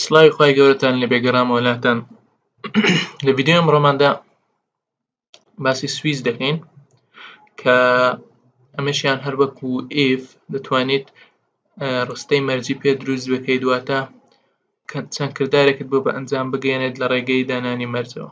سڵاوی خوای گەورەتان لەبێ گەڕامەوە لاتان لە ڤیددیو ئەمڕۆماندا باسی سویس دەکەین کە ئەمەشیان هەر وەکو ئف دەتوانیت ڕستەی مەرجی پێ دروست بکەیت دواتە چەند کردارێکت بۆ بە ئەنجام بگەێنێت لە ڕێگەی دانانی مەرجەوە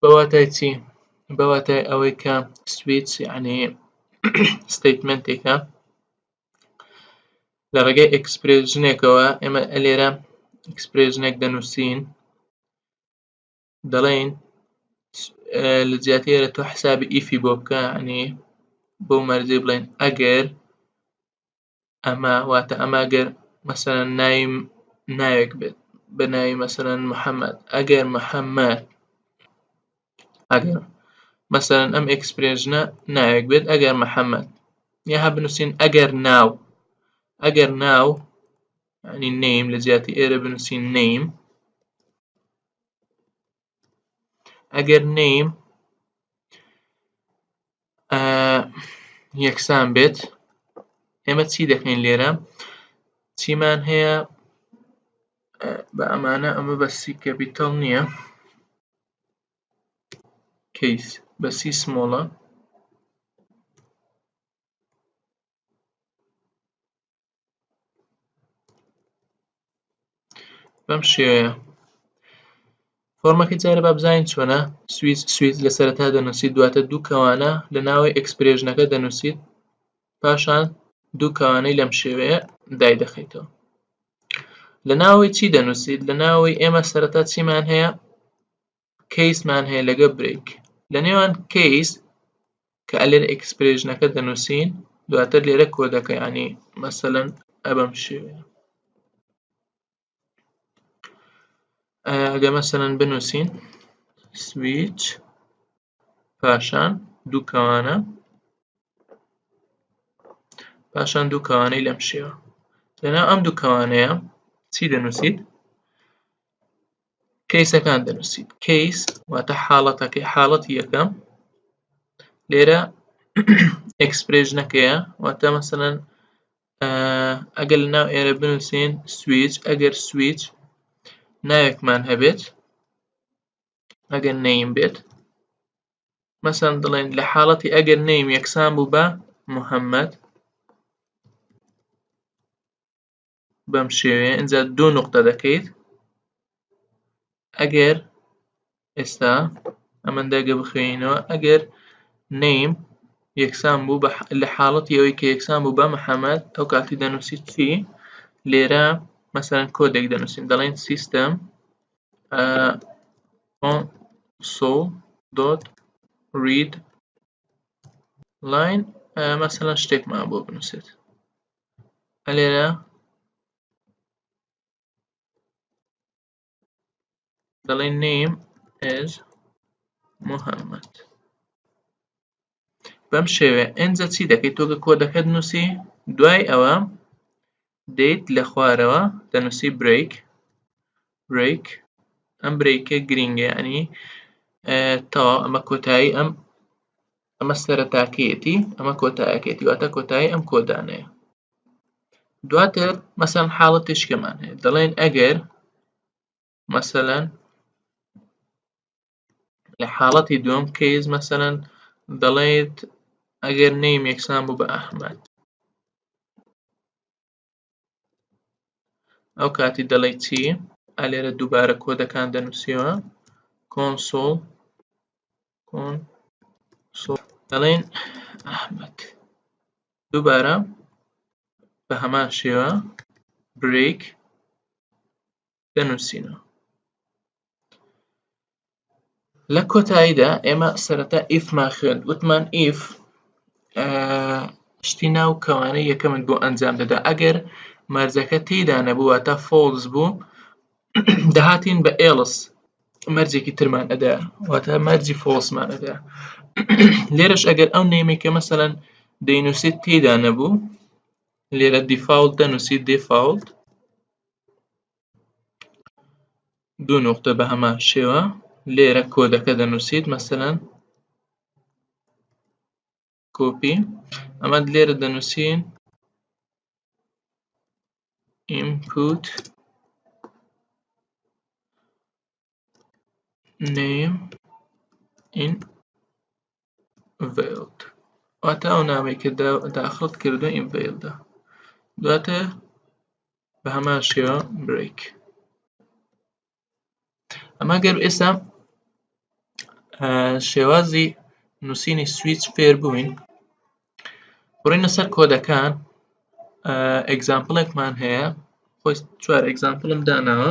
بە واتای چی بە واتای ئەوەی کە سویچ یعنی ستیتمنتێکە لە ڕێگەی ئەکسپرێژنێکەوە ئێمە ئەلێرە ئەکسپرێژنێک دەنووسین دەڵێن لە جیاتی ئێرە تۆ حسابی ئیفی بۆ بکە عنی بۆ مەرجی بڵێن ئەگەر ئەمە واتە ئەمە گەر مەسەرەن ناوی ناوێک بێت بە ناوی مەسەرەن محەممەد ئەگەر محەممەد ئەگەر مەسەرەن ئەم ئەکسپرێژنە ناوێک بێت ئەگەر محەممەد یا هە بنووسین ئەگەر ناو ئەگەر ناو ینی نیم لە جیاتی ئێرە بنووسین نیم ئەگەر نیم یەکسان بێت ئێمە چی دەکەین لێرە چیمان هەیە بە ئەمانە ئەمە بە سی کەپیتەڵ نییە کەیس بە سی سمۆڵە بەم شێوەیە فۆرمەکە جارە با بزانین چۆنە سویس سویس لە سەرەتا دەنووسیت دواتە دوو کەوانە لە ناوی ئەکسپرێژنەکە دەنووسیت پاشان دوو کەوانەی لەم شێوەیە دای دەخیتەوە لە ناوی چی دەنووسیت لە ناوی ئێمە سەرەتا چیمان هەیە کەیسمان هەیە لەگە برێک لە نێوان کەیس کە ئەلێر ئەکسپرێژنەکە دەنووسین دواتر لێرە کۆدەکەیانی مەسەەن ئەبم شێوێ ئەگە مەسەەن بنووسین سویچ پاشان دووکەوانە پاشان دوو کەوانەی لەم شێوە لەنا ئەم دوو کەوانەیە چی دەنووسیت کەیسەکان دەنووسیت کەیس واتە حاڵەتەکەی حاڵەتی یەکەم لێرە ئەکسپرێژنەکەیە واتە مەسەەن ئەگەر لە ناو ئێرە بنووسین سویچ ئەگەر سویچ ناوێکمان هەبێت ئەگەر نەیم بێت مەسەن دڵێن لە حاڵەتی ئەگەر نەیم یەکسان بوو بە محەممەد بەم شێوەیە ئینجا دوو نقطە دەکەیت ئەگەر ئێستا ئەمەن دەگە بخوێنینەوە ئەگەر نیم یەکسان بوو لە حاڵەتی ئەوەی کە یەکسان بوو بە محەممەد ئەو کاتی دەنووسی چی لێرە مەسەرەن کۆدێک دەنووسین دەڵێن سیستەم سۆ دۆت ڕید لاین مەسەەن شتێکمان بۆ بنووسێت لێرە دەڵێ نیم ئێز محەممەد بەم شێوێ ئەجا چی دەکەیت تۆگە کۆدەکەت نووسی دوای ئەوە دەیت لە خوارەوە دەنووسی برێک برێک ئەم برێکە گرینگە ئەنی تەوا ئەمە کۆتایی ئەم ئەمە سەرەتاکەیەتی ئەمە کۆتایەکەیەتی واتە کۆتایی ئەم کۆدانەیە دواتر مەسەن حاڵە تشکەمان هەیە دەڵێن ئەگەر مەسەەن لە حاڵەتی دوم کەیز مەسەەن دەڵێت ئەگەر نیم یەکسان بوو بە ئەحمد ئەو کاتی دەڵێ چی ئا لێرە دووبارە کۆدەکان دەنووسیەوە کۆنسۆڵ کۆن دەڵێن ئەحمد دووبارە بە هەمان شێوە برێک دەنووسینەوە لە کۆتاییدا ئێمە سەرەتا ئیفمان خوێن وتمان ئیف شتی ناو کەوانە یەکەمت بۆ ئەنجام دەدا ئەگەر مەرجەکە تێدا نەبووە تا فۆلز بوو دەهاتین بە ئێڵس مەرجێکی ترمان ئەدا واتە مەرجی فۆسمان ئەدا لێرەش ئەگەر ئەو نێمی کە مەسەەن دەینوسیت تێدا نەبوو لێرە دیفاولت دەنووسیت دیفاولت دوو نقطە بە هەمان شێوە لێرە کۆدەکە دەنووسیت مەسەەن کۆپی ئەمە لێرە دەنووسین input name in veiled واتە ئەو نامەی کە داخڵت کردووە in veiled دواتە بە هەمان شێوە break ئەمە گەر ئێستا شێوازی نووسینی سویچ فێر بووین بڕینە سەر کۆدەکان ئەگزامپڵێکمان هەیە خۆی چوار ئەگزامپڵم داناوە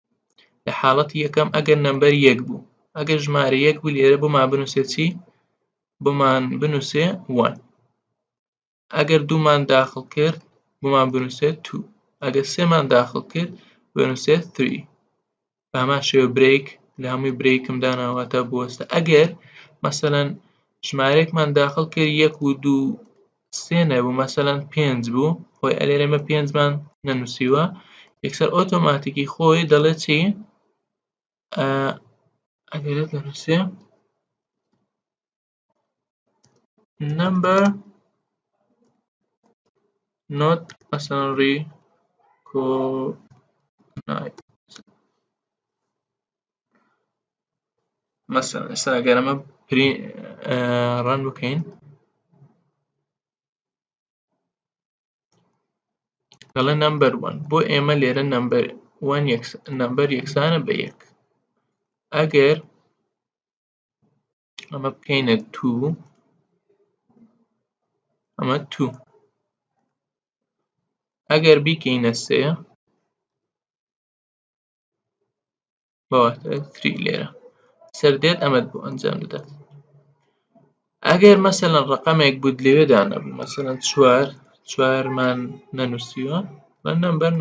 لە حاڵەتی یەکەم ئەگەر نەمبەر یەک بوو ئەگەر ژمارە یەک بوو لێرە بۆمان بنووسێ چی بۆمان بنووسێ وان ئەگەر دوومان داخل کرد بۆمان بنووسێت تو ئەگەر سێمان داخل کرد بنووسێت تری بامان شێوە برێک لە هەمووی برێکم داناواتە بوەستە ئەگەر مەسەەن ژمارێکمان داخل کرد یەک و دوو سێ نەبوو مەسەەن پێنج بوو خۆی ئەلێر ئێمە پێنجمان نەنووسیوە یەکسەر ئۆتۆماتیکی خۆی دەڵێت چی ئەگەرێت نەنووسێ نمبر نۆت ئەسەنڕی کۆ مەسەن ئێستا گەرەمە پری ڕەن بکەین دەڵێ نمبەر وەن بۆ ئێمە لێرە نمبەر وەن نمبەر یەکسانە بە یەک ئەگەر ئەمە بکەینە تو ئەمە تو ئەگەر بیکەینە سێ بەواتای تری لێرە سەردێت ئەمەد بۆ ئەنجام دەدات ئەگەر مەسەەن ڕقەمێک بوت لەوێ دانەبوو مەسەەن چوار چوارمان نەنووسیوە بە نمبەر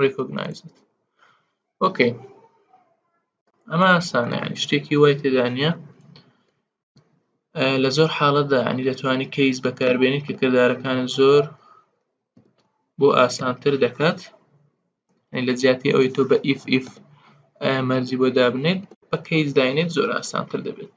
ڕیکۆگنایزت ئۆکەی ئەمە ئاسانە شتێکی وای تێدانە لە زۆر حاڵەتدا ینی دەتوانانی کەیس بەکاربێنیت کە کردارەکان زۆر بۆ ئاسانتر دەکات لە جیاتی ئەوەی تۆ بە ئیف ئیف مەرجی بۆ دابنێت بە کەیس داینێت زۆر ئاسانتر دەبێت